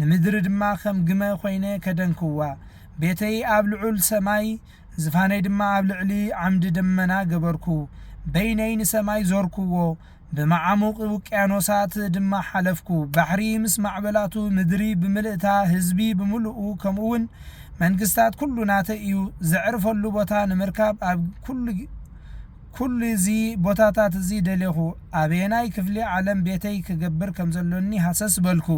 ንምድሪ ድማ ኸም ግመ ዀይነ ከደንክዋ፣ ቤተይ ኣብ ልዑል ሰማይ፣ ዝፋነይ ድማ ኣብ ልዕሊ ዓምዲ ደመና ገበርኩ። በይነይ ንሰማይ ዞርክዎ፣ ብመዓሙቝ ውቅያኖሳት ድማ ሓለፍኩ። ባሕሪ ምስ ማዕበላቱ፣ ምድሪ ብምልእታ፣ ህዝቢ ብምሉኡ፣ ከምኡውን መንግስታት ኵሉ ናተይ እዩ። ዘዕርፈሉ ቦታ ንምርካብ ኣብ ኵሉ። ኩሉ እዚ ቦታታት እዚ ደሌኹ። ኣበየናይ ክፍሊ ዓለም ቤተይ ክገብር ከም ዘሎኒ ሃሰስ በልኩ።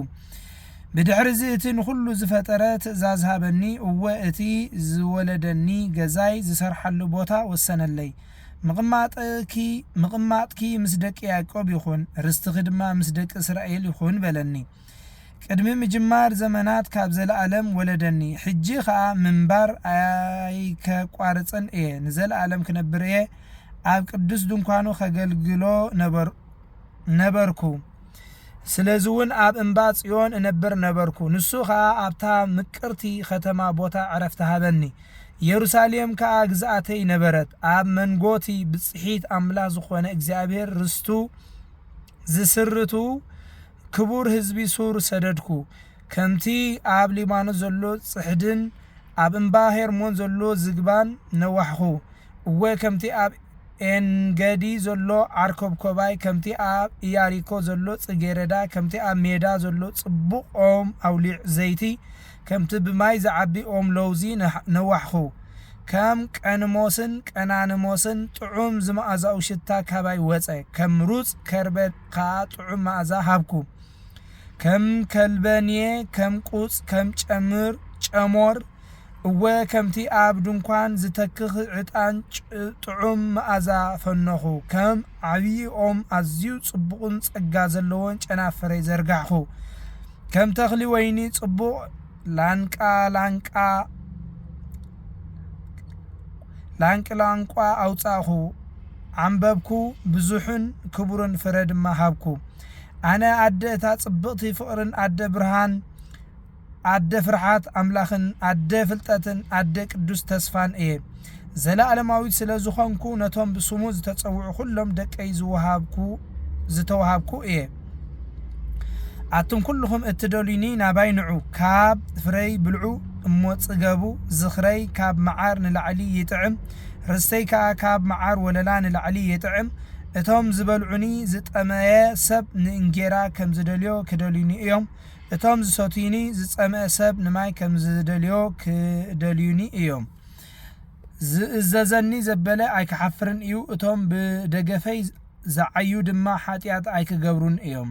ብድሕርዚ እቲ ንኹሉ ዝፈጠረ ትእዛዝ ሃበኒ፣ እወ እቲ ዝወለደኒ ገዛይ ዝሰርሓሉ ቦታ ወሰነለይ። ምቕማጥኪ ምስ ደቂ ያእቆብ ይኹን፣ ርስትኺ ድማ ምስ ደቂ እስራኤል ይኹን በለኒ። ቅድሚ ምጅማር ዘመናት ካብ ዘለኣለም ወለደኒ ሕጂ ከኣ ምንባር ኣይከቋርጽን እየ ንዘለኣለም ክነብር እየ ኣብ ቅዱስ ድንኳኑ ከገልግሎ ነበር ነበርኩ ስለዚ እውን ኣብ እምባ ጽዮን እነብር ነበርኩ ንሱ ከኣ ኣብታ ምቅርቲ ከተማ ቦታ ዕረፍቲ ሃበኒ ኢየሩሳሌም ከኣ ግዝኣተይ ነበረት ኣብ መንጎቲ ብጽሒት ኣምላኽ ዝኾነ እግዚኣብሔር ርስቱ ዝስርቱ ክቡር ህዝቢ ሱር ሰደድኩ፣ ከምቲ ኣብ ሊባኖስ ዘሎ ጽሕድን ኣብ እምባ ሄርሞን ዘሎ ዝግባን ነዋሕኹ፣ እወ ከምቲ ኣብ ኤንገዲ ዘሎ ዓርኮብኮባይ፣ ከምቲ ኣብ እያሪኮ ዘሎ ጽጌረዳ፣ ከምቲ ኣብ ሜዳ ዘሎ ጽቡቕ ኦም ኣውሊዕ ዘይቲ፣ ከምቲ ብማይ ዝዓቢ ኦም ለውዚ ነዋሕኹ፣ ከም ቀንሞስን ቀናንሞስን ጥዑም ዝመኣዛኡ ሽታ ካባይ ወጸ፣ ከም ሩጽ ከርበ። ከኣ ጥዑም መኣዛ ሃብኩ። ከም ከልበንየ ከም ቁጽ ከም ጨምር ጨሞር እወ ከምቲ ኣብ ድንኳን ዝተክኽ ዕጣን ጥዑም መኣዛ ፈኖኹ። ከም ዓብዪ ኦም ኣዝዩ ጽቡቕን ጸጋ ዘለዎን ጨናፍረይ ዘርጋሕኹ። ከም ተኽሊ ወይኒ ጽቡቕ ላንቃ ላንቃ ላንቅላንቋ ኣውጻእኩ ዓምበብኩ ብዙሕን ክቡርን ፍረ ድማ ሃብኩ ኣነ ኣደ እታ ጽብቕቲ ፍቕርን ኣደ ብርሃን ኣደ ፍርሓት ኣምላኽን ኣደ ፍልጠትን ኣደ ቅዱስ ተስፋን እየ ዘለኣለማዊት ስለ ዝኾንኩ ነቶም ብስሙ ዝተጸውዑ ኩሎም ደቀይ ዝወሃብኩ ዝተወሃብኩ እየ ኣቱም ኩልኹም እትደልዩኒ ናባይ ንዑ፣ ካብ ፍረይ ብልዑ እሞ ጽገቡ፣ ዝኽረይ ካብ መዓር ንላዕሊ ይጥዕም፣ ርስተይ ከኣ ካብ መዓር ወለላ ንላዕሊ ይጥዕም፣ እቶም ዝበልዑኒ ዝጠመየ ሰብ ንእንጌራ ከም ዝደልዮ ክደልዩኒ እዮም፣ እቶም ዝሰትዩኒ ዝጸምአ ሰብ ንማይ ከም ዝደልዮ ክደልዩኒ እዮም። ዝእዘዘኒ ዘበለ ኣይክሓፍርን እዩ፣ እቶም ብደገፈይ ዝዓዩ ድማ ሓጢኣት ኣይኪገብሩን እዮም።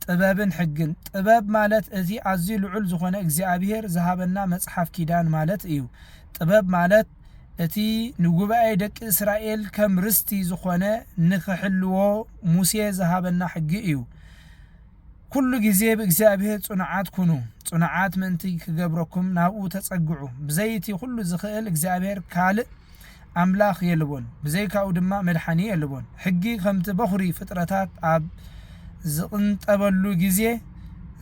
ጥበብን ሕግን። ጥበብ ማለት እዚ ኣዝዩ ልዑል ዝኾነ እግዚኣብሄር ዝሃበና መጽሓፍ ኪዳን ማለት እዩ። ጥበብ ማለት እቲ ንጉባኤ ደቂ እስራኤል ከም ርስቲ ዝኾነ ንኽሕልዎ ሙሴ ዝሃበና ሕጊ እዩ። ኩሉ ግዜ ብእግዚኣብሔር ጽኑዓት ኩኑ፣ ጽኑዓት ምእንቲ ክገብረኩም ናብኡ ተጸግዑ፣ ብዘይ እቲ ኩሉ ዝኽእል እግዚኣብሔር ካልእ ኣምላኽ የልቦን፣ ብዘይካኡ ድማ መድሓኒ የልቦን። ሕጊ ከምቲ በኹሪ ፍጥረታት ኣብ ዝቕንጠበሉ ግዜ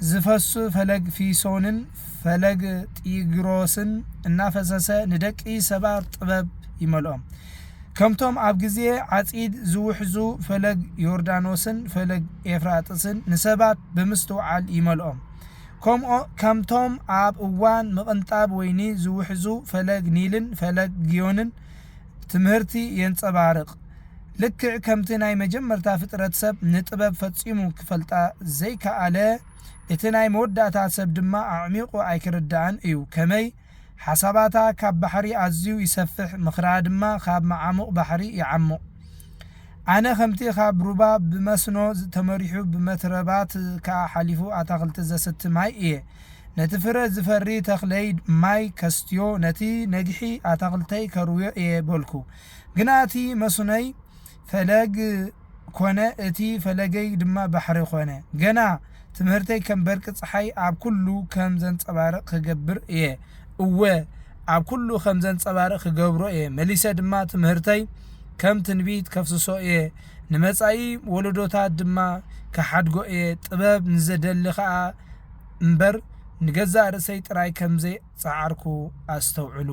ዝፈሱ ፈለግ ፊሶንን ፈለግ ጢግሮስን እናፈሰሰ ንደቂ ሰባት ጥበብ ይመልኦም። ከምቶም ኣብ ግዜ ዓጺድ ዝውሕዙ ፈለግ ዮርዳኖስን ፈለግ ኤፍራጥስን ንሰባት ብምስትውዓል ይመልኦም። ከምኡ ከምቶም ኣብ እዋን ምቕንጣብ ወይኒ ዝውሕዙ ፈለግ ኒልን ፈለግ ግዮንን ትምህርቲ የንጸባርቕ። ልክዕ ከምቲ ናይ መጀመርታ ፍጥረት ሰብ ንጥበብ ፈጺሙ ክፈልጣ ዘይከኣለ፣ እቲ ናይ መወዳእታ ሰብ ድማ ኣዕሚቑ ኣይክርድኣን እዩ። ከመይ? ሓሳባታ ካብ ባሕሪ ኣዝዩ ይሰፍሕ፣ ምኽራ ድማ ካብ መዓሙቕ ባሕሪ ይዓሙቕ። ኣነ ከምቲ ካብ ሩባ ብመስኖ ተመሪሑ ብመትረባት ከኣ ሓሊፉ ኣታኽልቲ ዘስቲ ማይ እየ። ነቲ ፍረ ዝፈሪ ተኽለይ ማይ ከስትዮ፣ ነቲ ነግሒ ኣታኽልተይ ከርውዮ እየ በልኩ። ግና እቲ መስኖይ ፈለግ ኮነ፣ እቲ ፈለገይ ድማ ባሕሪ ኮነ። ገና ትምህርተይ ከም በርቂ ጸሓይ ኣብ ኩሉ ከም ዘንጸባርቕ ክገብር እየ። እወ፣ ኣብ ኩሉ ከም ዘንጸባርቕ ክገብሮ እየ። መሊሰ ድማ ትምህርተይ ከም ትንቢት ከፍስሶ እየ፣ ንመጻኢ ወለዶታት ድማ ክሓድጎ እየ። ጥበብ ንዘደሊ ኸኣ እምበር ንገዛእ ርእሰይ ጥራይ ከም ዘይጸዓርኩ ኣስተውዕሉ።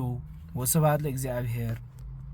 ወስብሃት ለእግዚኣብሄር።